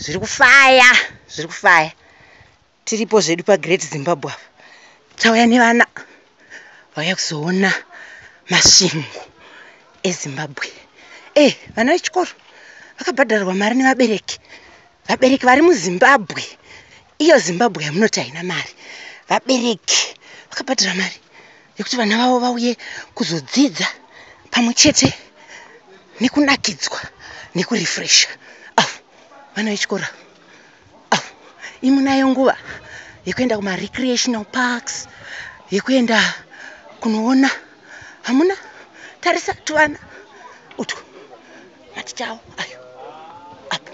zviri kufaya zviri kufaya tiripo zvedu pagreat zimbabwe apa tauya nevana vauya kuzoona masvingo ezimbabwe e eh, vana vechikoro vakabhadharwa mari nevabereki vabereki vari muzimbabwe iyo zimbabwe yamunoti haina mari vabereki vakabhadhara mari yekuti vana vavo vauye kuzodzidza pamwe chete nekunakidzwa nekurefresha avo vana vechikoro avo imunayo nguva yekuenda kumarecreational parks yekuenda kunoona hamuna tarisa tuvana utwo maticha avo ayo apo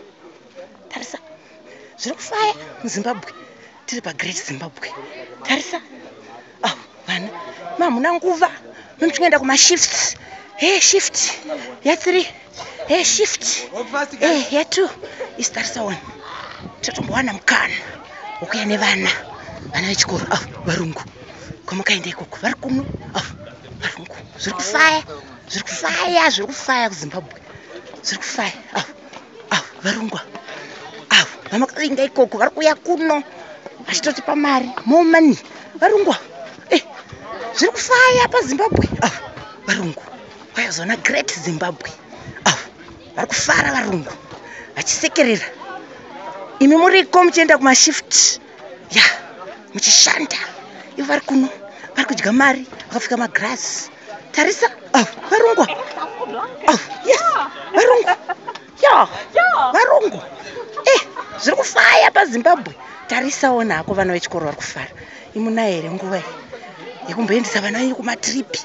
tarisa zviri kufaya muzimbabwe tiri pagreat zimbabwe tarisa ah, vana mamuna nguva nomuchingoenda kumashift he shift yathree he shift e yatwo isi tarisa one totombowana mukana wokuya nevana vana vechikoro ah, varungu kwamakaenda ikoko vari kuno ah, varungu zviri kufaya zviri kufaya zviri kufaya kuzimbabwe zviri kufaya avo varongwa avo vamakavinga ikoko vari kuuya kuno vachitotipa mari more money varongwa eh, zviri kufaya pazimbabwe avo varungu vayazoona great zimbabwe avo vari kufara varungu vachisekerera imi muriko muchienda kumashift ya muchishanda ivo vari kuno vari kudya mari vakapfeka magrasi tarisa oh, varungu oh, yes varungu ya varungu e eh, zviri kufaya pazimbabwe tarisawo nako vana vechikoro vari kufara imunaere nguva yekumboendesa vana venyu kumatiripi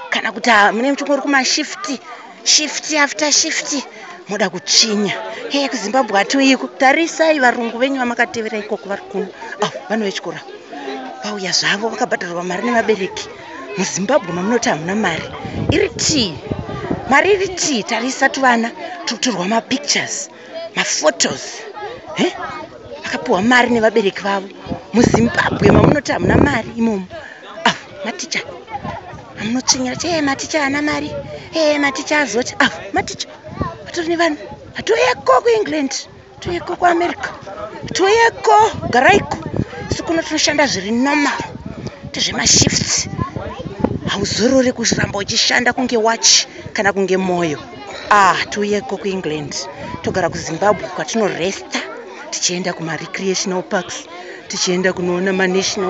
kana kuti ah, mune muchongo uri kumashifti shifti after shifti moda kuchinya hee kuzimbabwe hatiuyiko tarisai varungu venyu vamakatevera ikoko vari kuno a ah, vanhu vechikora vauya zvavo vakabhadharwa mari nevabereki muzimbabwe mamunoti hamuna mari iri tii mari iri tii tarisa tuvana tikutorwa mapictures maphotos eh? akapiwa mari nevabereki vavo muzimbabwe mamunoti hamuna mari imomo ah, maticha amunotsvinyira ti ee maticha ana mari ee maticha azoti ah, maticha atori nevanhu atoyeko kuengland toyeko kuamerica toyeko garaiko isu kuno tinoshanda zviri normal tezvemashifts hauzorore kuramba uchishanda kunge wachi kana kunge mwoyo ah tiuyeko kuengland togara kuzimbabwe kwatinoresta tichienda kumarecreational parks tichienda kunoona manational